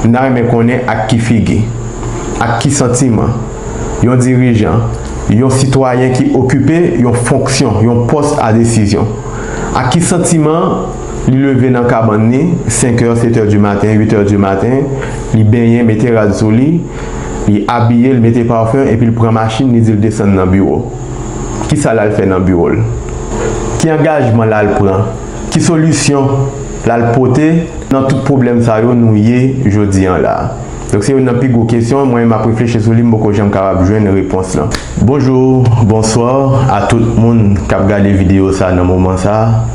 M ta renmen konnen ak ki figi, ak ki santiman, yon dirijan, yon sitwayen ki okipe yon fonksyon, yon pòs a desizyon, ak ki santiman li leve nan kabann li, senkè, setè di maten, uitè di maten, li benyen, mete rad sou li, li abiye, li mete parfum, epi li pran machin li di li desann nan biwo. Kisa l al fè nan biwo l? Ki angajman l al pran? Ki solisyon lal pote nan tout pwoblèm sa yo nou ye jodi an la? Donk se youn nan pi gwo kesyon mwen map reflechi sou li m poko janm kapab jwenn repons lan. Bonjour, bonsoir a tout moun kap gade video sa nan moman sa.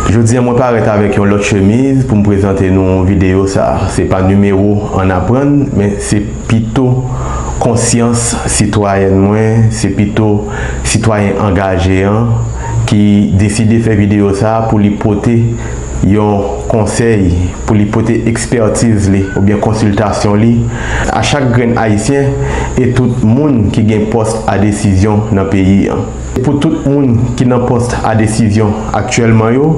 Jodi an mwen parèt avèk yon lòt chemiz poum prezante nou video sa. Se pa nimewo ann aprann men se pito konsyans sitwayèn mwen, se pito sitwayen angaje an. ki deside fè videyo sa pou li pote yon konsèy, pou li pote ekspètiz li oubyen konsiltasyon li a chak grenn Ayisyen e tout moun ki gen pòs a desizyon nan peyi an. Se pou tout moun ki nan pòs a desizyon aktyèlman yo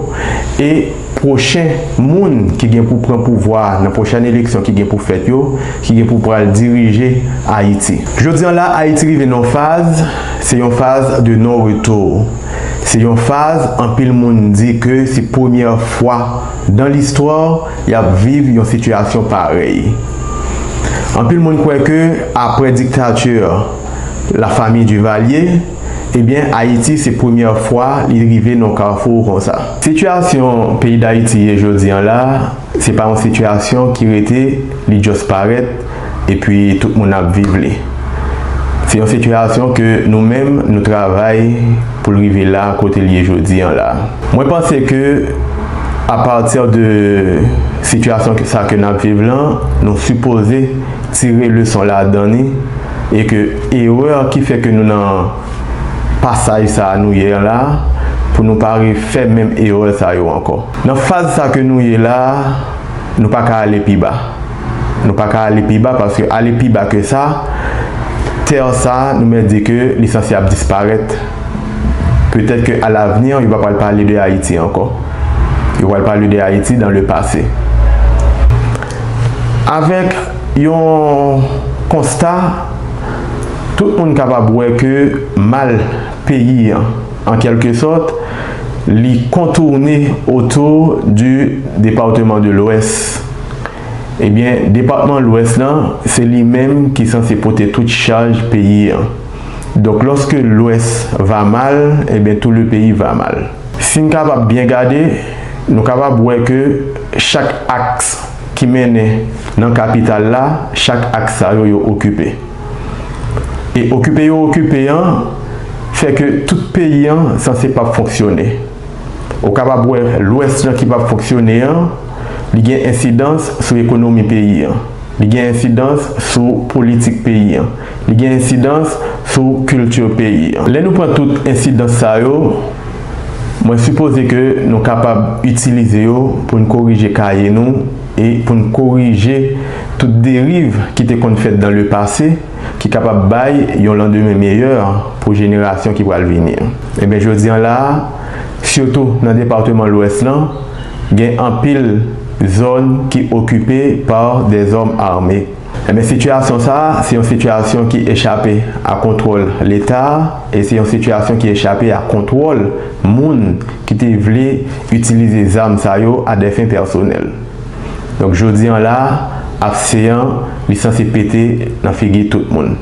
e. pwochen moun ki gen pou pran pouvwa a nan pwochèn eleksyon ki gen pou fèt yo, ki gen pou pral dirije Ayiti. Jodi an la, Ayiti rive nan yon faz, se yon faz de non retour. Se yon faz anpil moun di ke se premyè fwa dan listwa y ap viv yon sitiyasyon parèy. Anpil moun kwè ke apre dictature la famille Duvalier, Ebyen Ayiti se premyè fwa li rive nan kafou konsa. Sitiyasyon peyi Dayiti ye jodi an la, se pa yon sitiyasyon ki rete li just parèt epi tout moun ap viv li. Se yon sitiyasyon ke nou menm nou travay pou l rive la kote l ye jodi an la. Mwen panse ke a pati de sitiyasyon sa ke n ap viv lan nou sipoze. tire leson ladan li e ke erè ki fè ke nou nan pasaj sa a nou ye an la a, pou nou pa refè menm erè sa yo ankò. Nan faz sa ke nou ye la a, nou pa ka ale pi ba. Nou pa ka ale pi ba paske ale pi ba ke sa, tè sa a nou mèt di ke li sanse ap disparèt. Petèt ke alavni, yo pa pral pale de Ayiti ankò. Yo pral pale de Ayiti dan le pase. Avèk yon konsta tout moun kapab wè ke mal peyi an, an kèlke sòt, li kontourne otou di departeman de lwès. Ebyen, depatman lwès lan, se li menm ki sanse pote tout chaj peyi an. Donk lòske lwès va mal, ebyen tou le peyi va mal. Si n kapab byen gade, Nou kapab wè ke chak aks ki mennen nan kapital la, chak aks sa yo, yo okipe. E okipe yo okipe an, fè ke tout peyi an sanse pap fonksyone. Ou kapab wè lwès lan ki pap fonksyone an, li gen ensidans sou ekonomi peyi an, li gen ensidans sou politik peyi an, li gen ensidans sou kilti peyi an. Lè nou pran tout ensidans sa yo, Mwen sipoze ke nou kapab itilize yo pou n korije kaye nou e pou n korije tout deriv ki te konn fèt dan le pase ki kapab bay yon landemen meyè pou jenerasyon ki pral vini. Enben jodi an la a, sitou nan departeman Lwès lan, gen anpil zòn ki okipe pa dè zòm ame. Enben sitiyasyon sa a se yon sitiyasyon ki echape a kontwòl Leta a e se yon sitiyasyon ki echape a kontwòl moun ki te vle itilize zam sa yo a dè fen pèsonèl. Donk jodi an la a, APSEAN li sanse pete nan figi tout moun.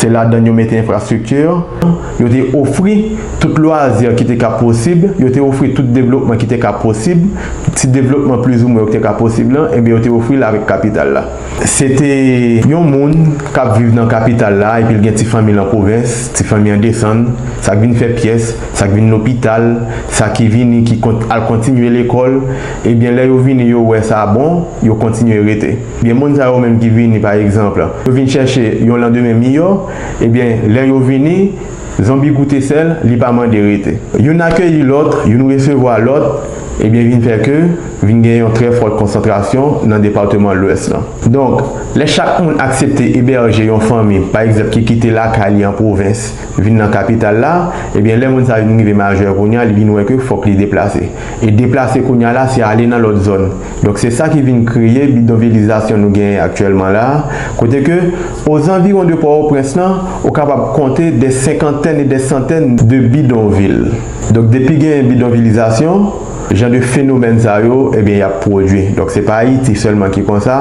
Se ladann yo mete enfrastrikti, yo te ofri tout lwazi ki te ka posib, yo te ofri tout devlopman ki te ka posib, ti devlopman plizoumwen yo ki te ka posib lan, enben yo te ofri l avèk kapital la. Se te yon moun k ap viv nan kapital la epi l gen ti fanmi l an pwovens, ti fanmi an desann, sa k vin fè pyès, sa k vin lopital, sa ki vini ki al kontinye lekòl, ebyen lè yo vini yo wè sa bon, yo kontinye rete. Gen moun sa yo menm ki vini pa egzanp, yo vin chèche yon landemen miyò, ebyen lè yo vini, zonbi goute sèl, li pa mande rete. Youn akeyi lòt, youn resevwa lòt, ebyen vin fè ke vin gen yon trè fòt konsantrasyon nan departeman Lwès lan. Donk, lè chak moun aksepte ebèje yon fanmi pa egzanp ki kite lakay li an pwovens vin nan kapital la, ebyen lè moun sa vin rive majè kounya li vin wè ke fòk li deplase. E deplase kounya la se ale nan lòt zòn. Donk se sa ki vin kreye bidonvilizasyon nou genyen aktyèlman la a, kote ke o zanviwon de Pòwoprens lan, ou kapab konte dè senkantèn e dè santèn de bidonvil. Donk depi genyen bidonvilizasyon, jan de fenomèn sa yo, ebyen y ap pwodui. Donk se pa Ayiti sèlman ki konsa,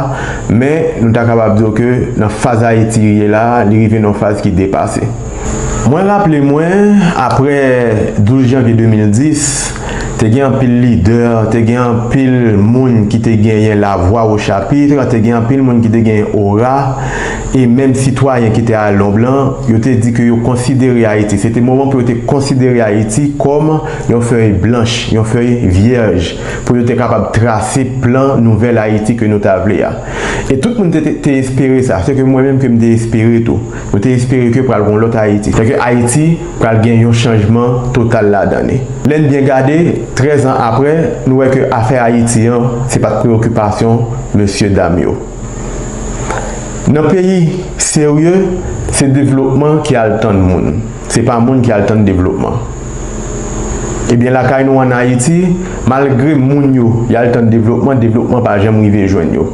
men nou ta kapab di w ke nan faz Ayiti ye la a, li rive nan yon faz ki depase. Mwen raple mwen, apre 12 janvye 2010, te gen anpil lidè, te gen anpil moun ki te genyen lavwa o chapitre, te gen anpil moun ki te genyen ora, e menm sitwayen ki te al lonb lan, yo te di ke yo konsidere Ayiti, se te moman pou yo te konsidere Ayiti kòm yon fèy blanch, yon fèy vyèj, pou yo te kapab trase plan nouvèl Ayiti ke nou ta vle a. E tout moun te espere sa, se ke mwen menm ke m te espere tou. Nou te espere ke pral gon lòt Ayiti. Fè ke Ayiti pral gen yon chanjman total ladan li. Lè n byen gade, 13 an apre, nou wè ke afè Ayiti an, se pat preyokipasyon mesye dam yo. Nan peyi serye, se devlopman ki al tann moun. Se pa moun ki al tann devlopman. Ebyen lakay nou an Ayiti, malgre moun yo, y al tann devlopman, devlopman pa janm rive jwenn yo.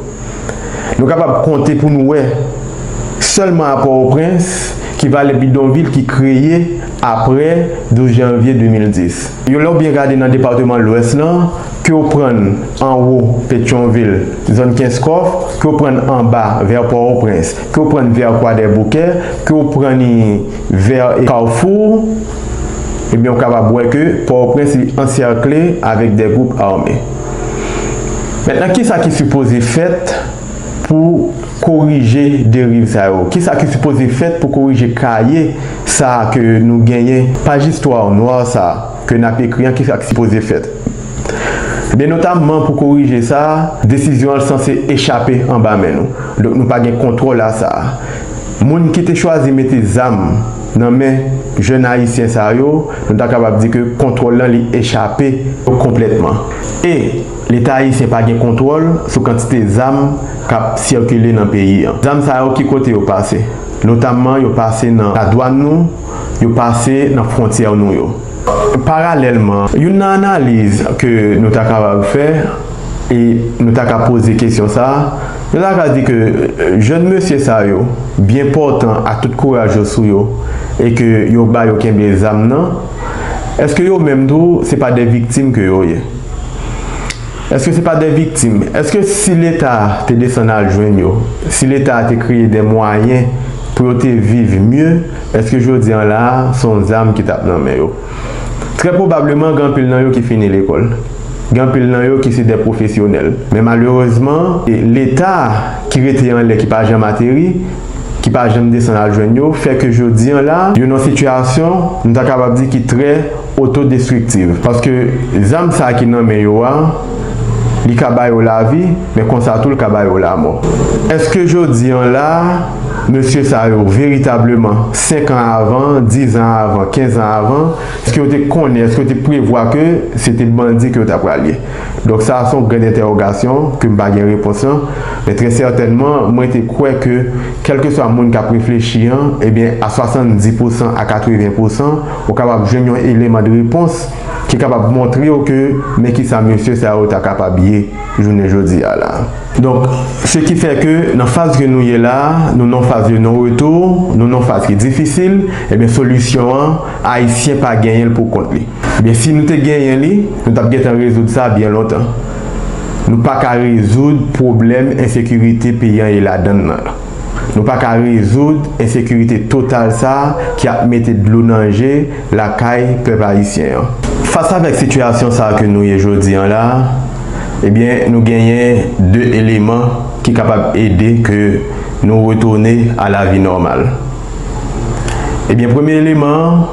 Nou kapab konte pou nou wè, sèlman a Pò-o-Prens, ki valè bidonvil ki kreye apre 12 janvye 2010. Yo lè w byen gade nan depatman Lwès lan, ke w prann anwo Petyonvil, zòn Kenskòf, ke w prann anba vè Pò-o-Prens, ke w prann vè Kwadèboukè, ke w pran ni vè Kafou, ebyen w kapab wè ke Pò-o-Prens li ansèkle avèk de gwoup ame. Mentnan kisa ki sipoze fèt pou korije deriv sa yo? Kisa ki sipoze fèt pou korije kaye sa ke nou genyen, paj istwa nwa sa ke n ap ekri an kisa ki sipoze fèt? Ebyen notamman pou korije sa, desizyon an sanse echape anba men nou, donk nou pa gen kontwòl a sa. Moun ki te chwazi mete zam. Nan men jèn ayisyen sa yo, nou ta kapab di ke kontwòl lan li echape yo konplètman. E, Leta ayisyen pa gen kontwòl sou kantite zam k ap sikile nan peyi an. Zam sa yo ki kote yo pase? Notamman yo pase nan ladwàn nou, yo pase nan fwontyè nou yo. Paralèlman, youn nan analiz ke nou ta kapab fè, E nou ta ka poze kesyon sa a, nou ta ka di ke jèn mesye sa yo byen pòtan ak tout kouraj yo sou yo e ke yo ba yo kenbe zam nan, èske yo menm tou se pa de viktim ke yo ye? Èske se pa de viktim? Èske si Leta te desann al jwenn yo, si Leta te kreye de mwayen pou yo te viv mye, èske jodi an la a se yon zam ki t ap nan men yo? Trè pwobableman gen anpil nan yo ki fini lekòl. Gen anpil nan yo ki se dè pwofesyonèl. Men malerezman, Leta ki rete anlè ki pa janm ateri, ki pa janm desann al jwenn yo, fè ke jodi an la, yo nan sitiyasyon, m ta kapab di ki trè otodestriktiv. Paske zam sa ki nan men yo a, li ka ba yo lavi, Men konsa tou l ka ba yo lamò. Èske jodi an la a, mesye sa yo, veritableman, senkan avan, dizan avan, kenzan avan, èske yo te konnen, èske yo te prevwa ke se te bandi ke yo ta pral ye? Donk sa a se yon gran entèwogasyon ke m pa gen repons lan. Men trè sètènman, mwen te kwè ke kèlkeswa moun k ap reflechi an, ebyen, a 70 pousan, a 80 pousan, ou kapab jwenn yon eleman de repons ki kapab montre w ke men kisa mesye sa yo ta kapab ye. jounen jodi a la. Donk, se ki fè ke nan faz ke nou ye la, nou nan yon faz de non retour, nou nan yon faz ki difisil, ebyen solisyon an, Ayisyen pa genyen l pou kont li. Ebyen si nou te genyen li, nou tap gentan rezoud sa byen lontan. Nou pa ka rezoud pwoblèm ensekirite peyi an ye ladann nan. Nou pa ka rezoud ensekirite total sa ki ap mete dlo nan je lakay pèp ayisyen an. Fas avèk sitiyasyon sa ke nou ye jodi an la, ebyen nou genyen 2 eleman ki kapab ede ke nou retounen a la vi nòmal. Ebyen premye eleman an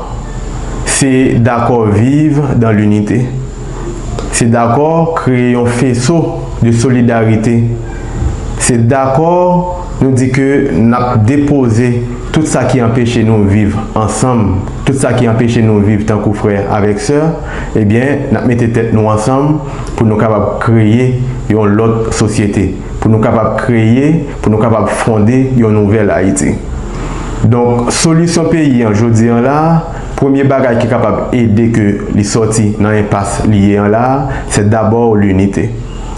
se dakò viv dan linite. Se dakò kreye yon feso de solidarite. Se dakò nou di ke n ap depoze tout sa ki anpeche nou viv ansanm, tout sa ki anpeche nou viv tankou frè avèk sè, ebyen n ap mete tèt nou ansanm pou nou kapab kreye yon lòt sosyete, pou nou kapab kreye, pou nou kapab fonde yon nouvèl Ayiti. Donk solisyon peyi an jodi an la, Premye bagay ki kapab ede ke li sòti nan enpas li ye an la a, se dabò linite.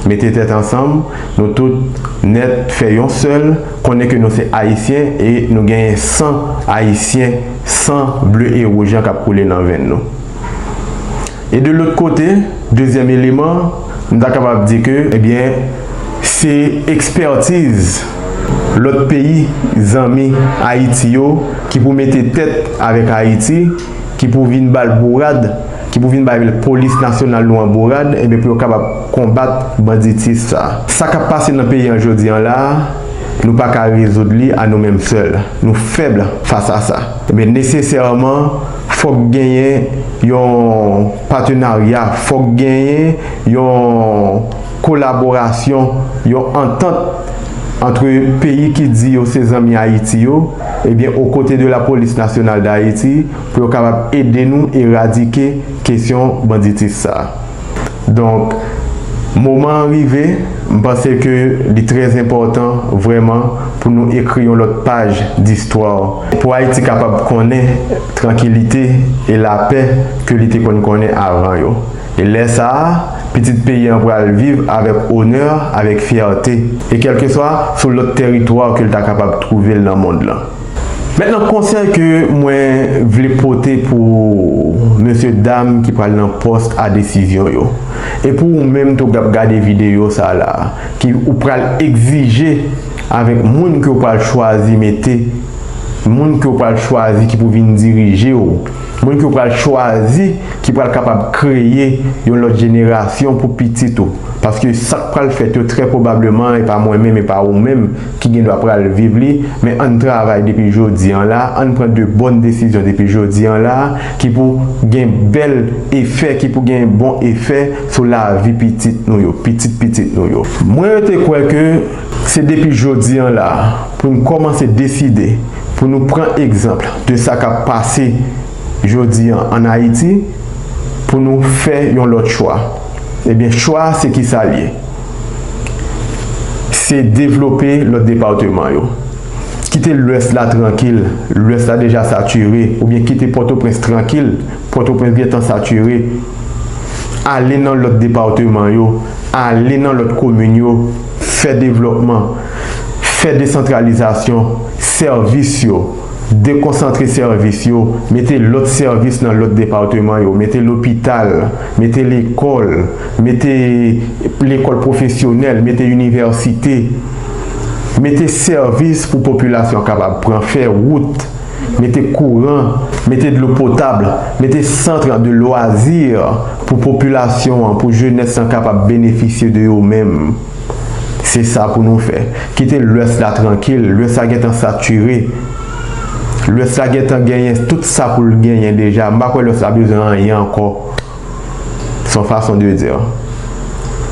Mete tèt ansanm, nou tout nèt fè yon sèl, konnen ke nou se Ayisyen e nou genyen san Ayisyen, san ble e wouj lan kap koule nan venn nou. E de lòt kote, dezyèm eleman, m ta kapab di ke, ebyen, se ekspètiz lòt peyi zanmi Ayiti yo ki pou mete tèt avèk Ayiti, ki pou vin ba l bourad, ki pou vin bay polis nasyonal nou an bourad, ebyen, pou yo kapab konbat banditis sa. Sa k ap pase nan peyi an jodi an la a, nou pa ka rezoud li a nou menm sèl. Nou fèb fas a sa. Ebyen, nesesèman. Fòk genyen yon patenarya, fòk genyen yon kolaborasyon, yon antant antre peyi ki di yo se zanmi Ayiti yo, ebyen o kote de la Police Nationale d'Haiti pou yo kapab ede nou eradike kesyon banditis sa. Donk moman an rive, m panse ke li trè enpòtan vrèman pou nou ekri yon lòt paj distwa pou Ayiti kapab konnen trankilite e lapè ke li te konn konnen avan yo. E lè sa a, pitit peyi an pral viv avèk onè, avèk fyète e kèlkeswa sou lòt tèritwa ke l ta kapab twouve l nan mond lan. Mentnan konsèy ke mwen vle pote pou mesye dam ki pral nan post a desizyon yo e pou ou menm tou kap gade videyo sa la ki ou pral egzije avèk moun ke ou pral chwazi mete moun ke ou pral chwazi ki pou vin dirije ou moun ke ou pral chwazi ki pral kapab kreye yon lòt jenerasyon pou pitit ou paske sak pral fèt yo trè pwobableman e pa mwen menm e pa ou menm ki gen dwa pral viv li, men ann travay depi jodi an la, ann pran de bòn desizyon depi jodi an la, ki pou gen bèl efè, ki pou gen bon efè sou lavi pitit nou yo, pitit pitit nou yo. Mwen rete kwè ke se depi jodi an la pou n kòmanse deside, pou nou pran egzanpl de sa k ap pase jodi an ann Ayiti, pou nou fè yon lòt chwa. Ebyen chwa a se kisa l ye? se devlope lòt departeman yo. Kite lwès la trankil, lwès la deja satire oubyen kite Pòtoprens trankil, Pòtoprens gentan satire. Ale nan lòt departeman yo, ale nan lòt komin yo, fè devlòpman, fè desantralizasyon sèvis yo, dekonsantre sèvis yo, mete lòt sèvis nan lòt departeman yo, mete lopital, mete lekòl. Mete lekòl pwofesyonèl, mete inivèsite, mete sèvis pou popilasyon kapab pran, fè wout, mete kouran, mete dlo potab, mete centre de loisirs pou popilasyon an, pou jenès lan kapab benefisye de yo menm. Se sa pou nou fè. Kite lwès la trankil, lwès la gentan sature. Lwès la gentan genyen tout sa pou l genyen deja, m pa kwè lwès la bezwen anyen ankò. son fason de dire.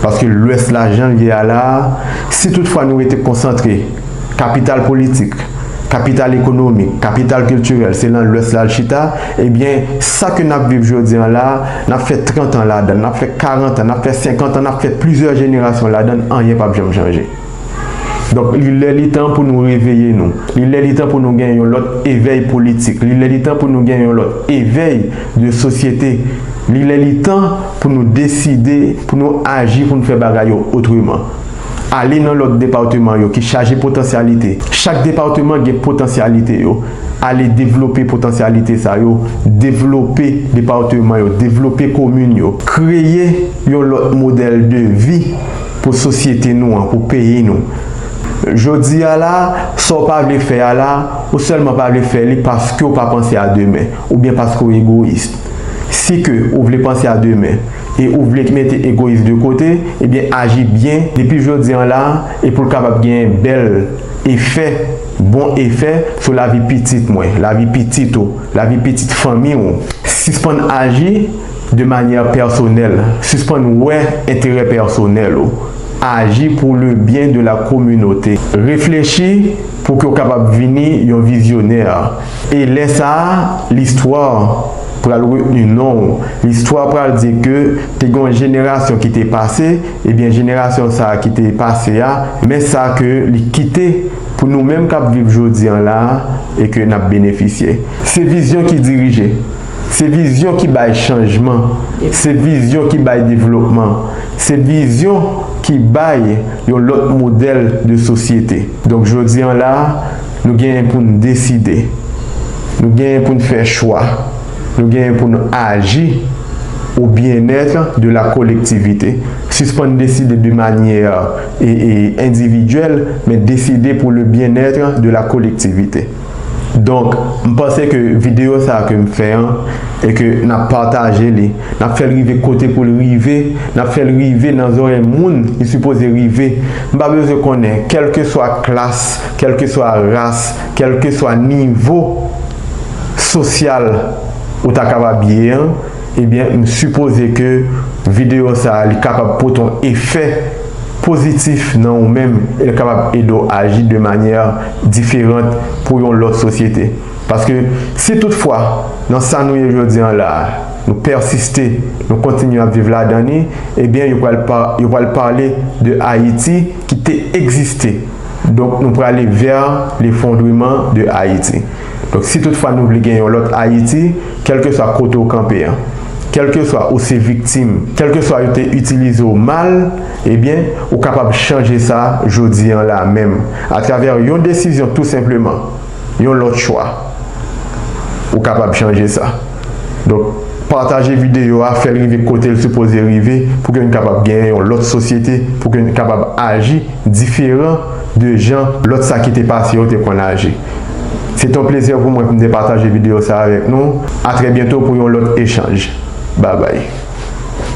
Paske lwès la jan l ye a la a, si tout fwa nou rete konsantre, kapital politik, kapital ekonomik, kapital kiltirèl se lan lwès la l chita, ebyen sa ke n ap viv jodi an la a, n ap fè 30 an ladan l, n ap fè 40 an, n ap fè 50 an, n ap fè plizyè jenerasyon ladan l, anyen p ap janm chanje. Donk li lè li tan pou nou reveye nou. Li lè li tan pou nou gen yon lòt evèy politik. Li lè li tan pou nou gen yon lòt evèy de sosyete. Li lè li tan pou nou deside, pou nou aji pou nou fè bagay yo otreman. Ale nan lòt departeman yo ki chaje potansyalite. Chak departeman gen potansyalite yo. Ale devlope potansyalite sa yo. Devlope departeman yo. Devlope komin yo. Kreye yon lòt modèl de vi. pou sosyete nou an, pou peyi nou. Jodi a la, sa w pa vle fè a la, ou sèlman pa vle fè li paske w pa panse a demen, oubyen paske w egoyis. Si ke ou vle panse a demen, e ou vle mete egoyis de kote, ebyen aji byen depi jodi an la, e pou l kapab genyen bèl efè, bon efè sou lavi pitit mwen, lavi pitit ou, lavi pitit fanmi ou. Sispann aji. de manyè pèsonèl, sispann wè enterè pèsonèl ou, aji pou le byen de la kominote, reflechi pou ke w kapab vini yon vizyonè, e lè sa a listwa pral retni non w, listwa pral di ke te gen yon jenerasyon ki te pase, ebyen jenerasyon sa a ki te pase a, men sa ke li kite pou nou menm k ap viv jodi an la a e ke n ap benefisye. Se vizyon ki dirije. Se vizyon ki bay chanjman, se vizyon ki bay devlopman, se vizyon ki bay yon lòt modèl de sosyete. Donk jodi an la, nou genyen pou n deside, nou genyen pou n fè chwa, nou genyen pou n aji au bien-être de la collectivité. Sispann deside de manyè endividyèl, men deside pou le bien-être de la collectivité. Donk m panse ke video sa ke m fè an e ke n ap pataje li, n ap fè l rive kote pou l rive, n ap fè l rive nan zorèy moun li sipoze rive. M pa bezwen konnen kèlkeswa klas, kèlkeswa ras, kèlkeswa nivo sosyal ou ta kapab ye an, ebyen m sipoze ke video sa li kapab pote yon efè. Pozitif nan ou menm e l kapab ede w aji de manyè diferant pou yon lòt sosyete. Paske si tout fwa nan sa nou ye jodi an la a, nou pèsiste, nou kontinye ap viv ladan ni, ebyen yo pral yo pral pale de Ayiti ki te egziste. Donk nou prale vè lefondreman de Ayiti. Donk si tout fwa nou vle gen yon lòt Ayiti, kèlkeswa kote w kanpe an, kèlkeswa ou se viktim, kèlkeswa yo te itilize w mal, ebyen, ou kapab chanje sa jodi an la menm, atravè yon desizyon tou senpleman, yon lòt chwa. Ou kapab chanje sa. Donk, pataje videyo a, fè l rive kote l sipoze rive, pou ke n kapab genyen yon lòt sosyete, pou ke n kapab aji diferan de jan lòt sa ki te pase yo te konn aji. Se ton plezè pou mwen pou m te pataje video sa avèk nou. A trè byento pou yon lòt echanj. Babay.